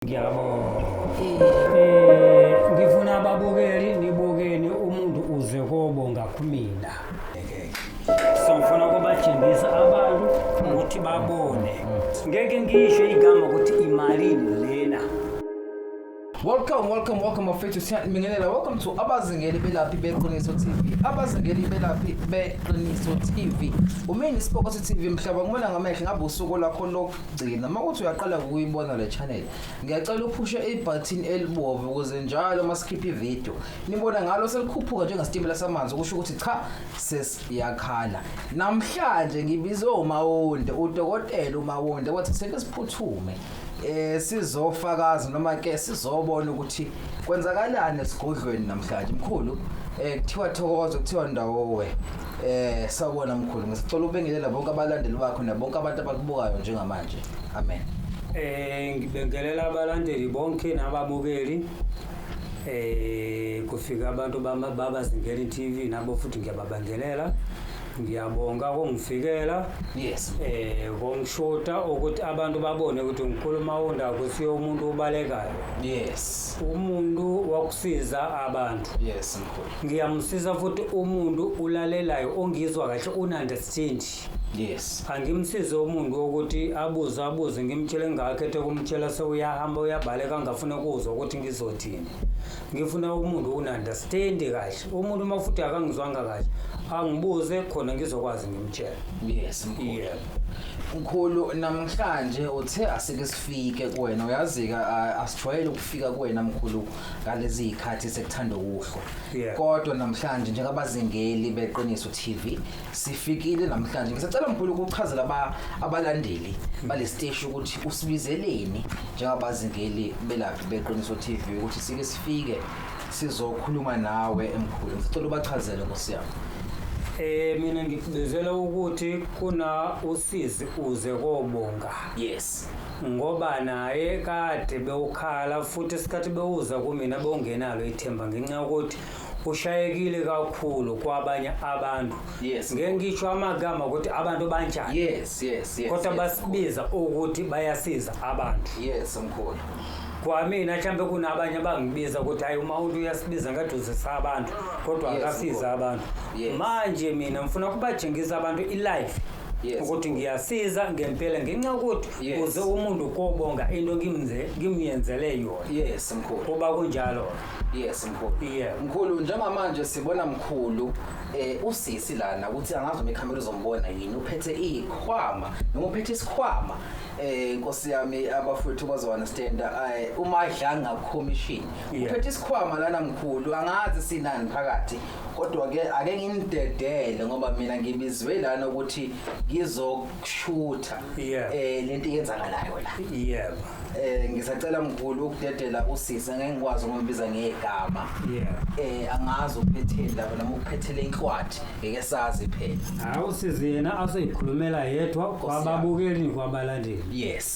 Ngiyabonga. Eh ngifuna ababukeli nibukeni umuntu uze kobonga kumina. Sangifuna kubatshengisa abantu ukuthi babone. Ngeke ngisho igama ukuthi imalini lena. Welcome, welcome, welcome bafethu siyanibingelela. Welcome to abazingeli belaphi beqiniso TV. Abazingeli belaphi beqiniso TV. Umini isipokosi TV mhlaba ngibona ngamehlo ngabe usuku lakho lokhu gcina uma kuthi uyaqala ukuyibona le channel ngiyacela uphushe ibutton elibomvu ukuze njalo uma sikhipha ivideo nibona ngalo selikhuphuka njengesitimela samanzi kusho ukuthi cha sesiyakhala namhlanje ngibizwe umawonde udokotela umawonde wathi seke siphuthume eh sizofakaza noma ke sizobona ukuthi kwenzakalani esigodlweni namhlanje mkhulu eh kuthiwa thokoza kuthiwa ndawo we Eh sawubona mkhulu ngisicela ubengelela bonke abalandeli bakho nabonke abantu abakubukayo njengamanje. Amen. Eh ngibengelela abalandeli bonke nababukeli. Eh kufika abantu bama- babazingeli TV nabo futhi ngiyababangelela. Ngiyabonga kongifikela. Yes. Eh kongishota ukuthi abantu babone ukuthi ngikhuluma unda ukuthi umuntu ubalekayo. Yes. Umuntu wakusiza abantu. Yes mkhulu. ngiyamsiza futhi umuntu ulalelayo ongizwa kahle ununderstand yes angimsize umuntu wokuthi abuze abuze ngimtshele ngingakhethe kumtshela sewuyahamba uyabaleka ngingafuna kuzwa ukuthi ngizothini ngifuna umuntu ununderstand kahle umuntu uma futhi akangizwanga kahle angibuze khona ngizokwazi ngimtshela yes mkhulu yeah. mkhulu namhlanje uthe asike sifike kuwena uyazika asijwayele ukufika kuwena mkhulu ngalezi zikhathi sekuthanda ukuhlwa Yeah. kodwa namhlanje njengabazingeli beqiniso TV sifikile namhlanje ngisacela mkhulu ukuchazela aba- abalandeli balesiteshi ukuthi usibizeleni njengabazingeli belaphi beqiniso TV ukuthi sike sifike sizokhuluma nawe emkhulu ngisacela ubachazele ngosiyami Eh mina ngikubizela ukuthi kuna usizi uze kobonga. yes ngoba naye kade bewukhala futhi isikhathi bewuza kumina bewungenalo ithemba ngenxa yokuthi ushayekile kakhulu kwabanye abantu Yes. ngeke ngisho amagama ukuthi abantu banjani yes yes yes kodwa yes, basibiza ukuthi bayasiza abantu yes mkhulu kwamina mhlawumbe kunabanye abangibiza ukuthi hayi uma umuntu uyasibiza ngathi uzisa abantu kodwa Yes, akasiza mkhulu. abantu Yes. manje mina ngifuna kubatshengisa abantu ilife Yes. ukuthi ngiyasiza ngempela ngenxa yokuthi Yes. kuze umuntu kobonga into ngimze- ngimyenzele yona yes mkhulu kuba kunjalo yes mkhulu Yeah. mkhulu njengamanje sibona mkhulu eh usisi lana ukuthi angazi uma ikhamera izombona yini uphethe ikhwama noma uphethe isikhwama eh nkosi yami abafowethu bazounderstand eh umadlanga commission Yeah. uphethe isikhwama lana mkhulu angazi sinani phakathi kodwa ke ake ngimdedele ngoba mina ngibizwe lana ukuthi ngizokushutha Yeah. eh lento yenzakalayo la yebo eh ngisacela mkhulu ukudedela usisi ngeke ngikwazi ukumbiza ngegama yebo eh angazi ukuphetheni lapho noma ukuphethele inhlwathi ngeke sazi phela hawu sizi yena aseyikhulumela yedwa kwababukeli kwabalandeli yes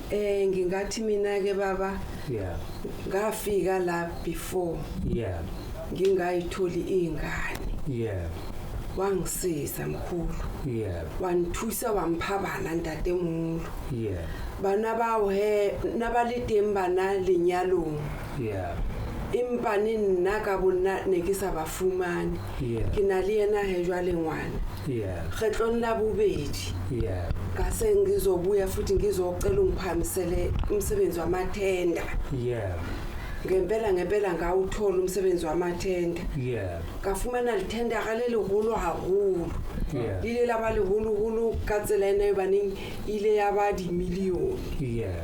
Eh ngingathi mina ke baba yeah ngafika la before yeah ngingayitholi ingane yeah wangisiza mkhulu yeah wangithusa wamphabana ntatemulu yeah bana bawo he nabalidem bana lenyalong yeah impani nna ka bonna ne ke sa ba fumane Yeah. ke na le yena he jwale ngwana Yeah. kgetlong la bobedi Yeah. ngase ngizobuya futhi ngizocela ungiphakamisele umsebenzi wamathenda Yeah. ngempela ngempela ngawuthola umsebenzi wamathenda Yeah. ka fumana lithendera le legolo haholo Yeah. le ile la ba leholoholo ka tsela e ne e baneng e ile ya ba dimilione Yeah.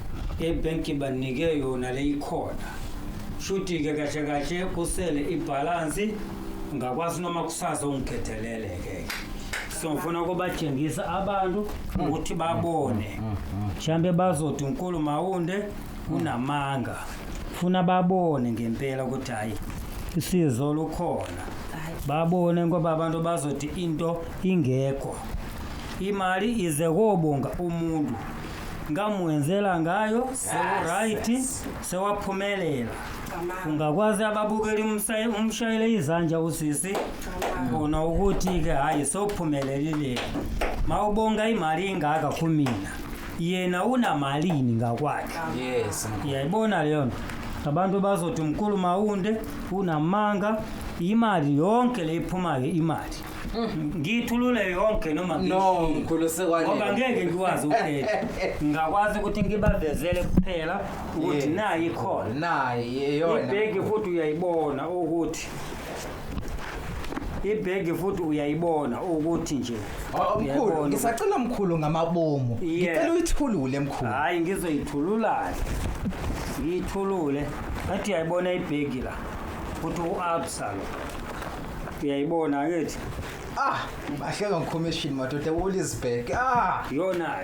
ibhenki banike yona leyikhona shuthi-ke kahle kahle kusele ibhalansi ngakwazi noma kusasa ungiphethelele-ke so ngifuna kubatshengisa abantu ukuthi babone mhlawumbe bazothi unkulu mawunde unamanga funa babone ngempela ukuthi hhayi isizo lukhona babone ngoba abantu bazothi into ingekho imali ize kobonga umuntu ngamwenzela ngayo sewuright sewaphumelela ungakwazi ababukeli umshayele izandla usisi bona ukuthi-ke hhayi sophumelelile mawubonga imali ingaka kumina yena unamalini ngakwakhe yes uyayibona leyo nto abantu bazothi mkhulu mawunde unamanga imali yonke leyiphumayo imali ngiyithulule yonke noma no ngiyishilo. mkhulu ngoba sekwanele ngeke ngikwazi ukuthetha ngingakwazi ukuthi ngibavezele kuphela ukuthi Yes. nayi ikhona naye yona ibhegi futhi uyayibona ukuthi ibhegi futhi uyayibona ukuthi nje Oh, mkhulu Uyayibona. ngisacela mkhulu ngamabomu Yeah. ngicela uyithulule mkhulu hhayi ngizoyithululani ngiyithulule ngathi uyayibona ibhegi la futhi u-absa lo uyayibona akithi ah ahleka ngicommission madoda ulisbek ah yona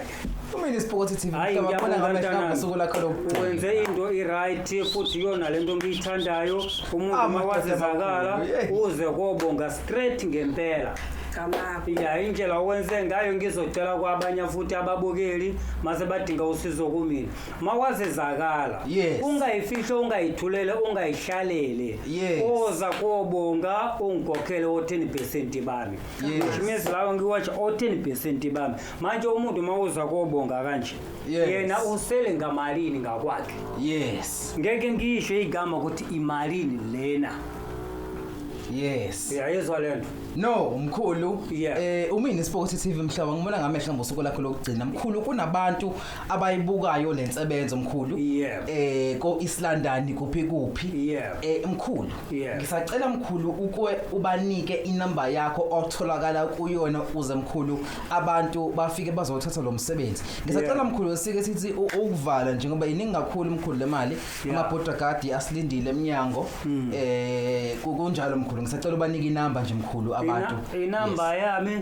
kumele isipokothe TV Hhayi, mhlaba khona ngiyabonga, ngamehla mntanami. ngosuku lakho lokugcina wenze into i-right futhi iyona le nto ngiyithandayo umuntu Ah, uma madoda wazizakala amakhulu, yeah. uze kobonga straight ngempela Kamako. ya indlela owenze ngayo ngizocela kwabanye futhi ababukeli mase badinga usizo kumina mawazizakala yes. ungayifihlo ungayithulele ungayihlalele yes. oza kobonga ungikhokhele o-ten percent bami yes. which means lawo ngiwatsha o-ten percent bami manje umuntu uma uza kobonga kanje yes. yena usele ngamalini ngakwakhe yes ngeke ngiyisho igama ukuthi imalini lena yes yayizwa le nto no mkhulu yeah. eh umini sport TV mhlaba ngibona ngamehla ngosuku lakho lokugcina mkhulu kunabantu abayibukayo lensebenzo mkhulu Yeah. eh ko Islandani kuphi kuphi Yeah. eh mkhulu Yeah. ngisacela mkhulu ukwe ubanike inamba yakho otholakala kuyona uze mkhulu abantu bafike bazothatha lo msebenzi ngisacela Yeah. mkhulu sike sithi u- ukuvala njengoba yiningi kakhulu mkhulu lemali Yeah. Hmm. amabhoda guard asilindile emnyango eh ku- kunjalo mkhulu ngisacela ubanike inamba nje mkhulu abantu Ina- inamba yami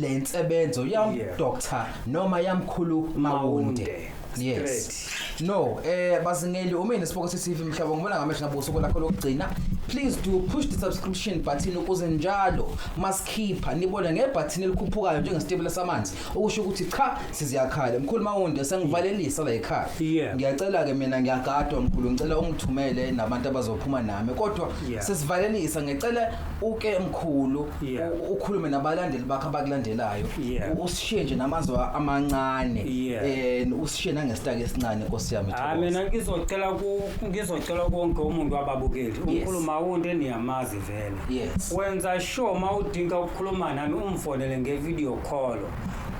le nsebenzo ya Yeah. doctor noma yamkhulu mawunde yes no eh bazingeli uma nesiboko sesivi mhlaba ngibona ngamehlo ngabuso kolakho lokugcina please do push the subscription button ukuze njalo masikhipha nibone ngebutton elikhuphukayo njengesitebula samanzi okusho ukuthi cha siziyakhala mkhulu mawunde sengivalelisa la ekhaya Yeah. ngiyacela ke mina ngiyagadwa mkhulu ngicela ungithumele nabantu abazophuma nami kodwa Yeah. sesivalelisa ngicela uke mkhulu Yeah. u- ukhulume nabalandeli bakho abakulandelayo Yeah. U- usishiye nje namazwi amancane Yeah. and usishiye nangesitaki esincane nkosi yami hayi Thokoza. mina ngizocela ku- ngizocela konke umuntu wababukeli Yes. umkhulu mawunde niyamazi vele Yes. wenza sure uma udinga ukukhuluma nami umfonele ngevideo call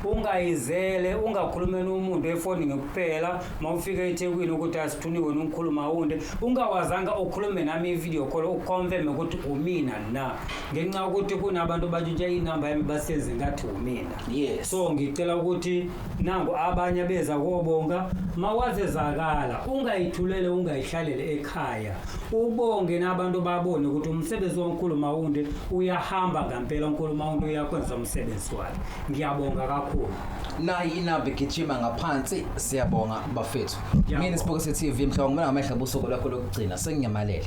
ungayizele ungakhulumeli umuntu efonini kuphela uma ufika ethekwini ukuthi asithuniwe nongikhuluma wunde ungawazanga ukhulume nami ividiyo call ukhomfeme ukuthi umina na ngenxa yokuthi kunabantu batshintsha inamba yami basenze ngathi umina yes so ngicela ukuthi nangu abanye beza kobonga mawazezakala ungayithulele ungayihlalele ekhaya ubonge nabantu babone ukuthi umsebenzi wankulu mawunde uyahamba ngampela unkulu mawunde uyakwenza umsebenzi wakhe ngiyabonga kakhulu nayi inamba igijima ngaphansi siyabonga bafethu mina sibukise TV mhlawumbe ngamehla busuku lakho lokugcina senginyamalele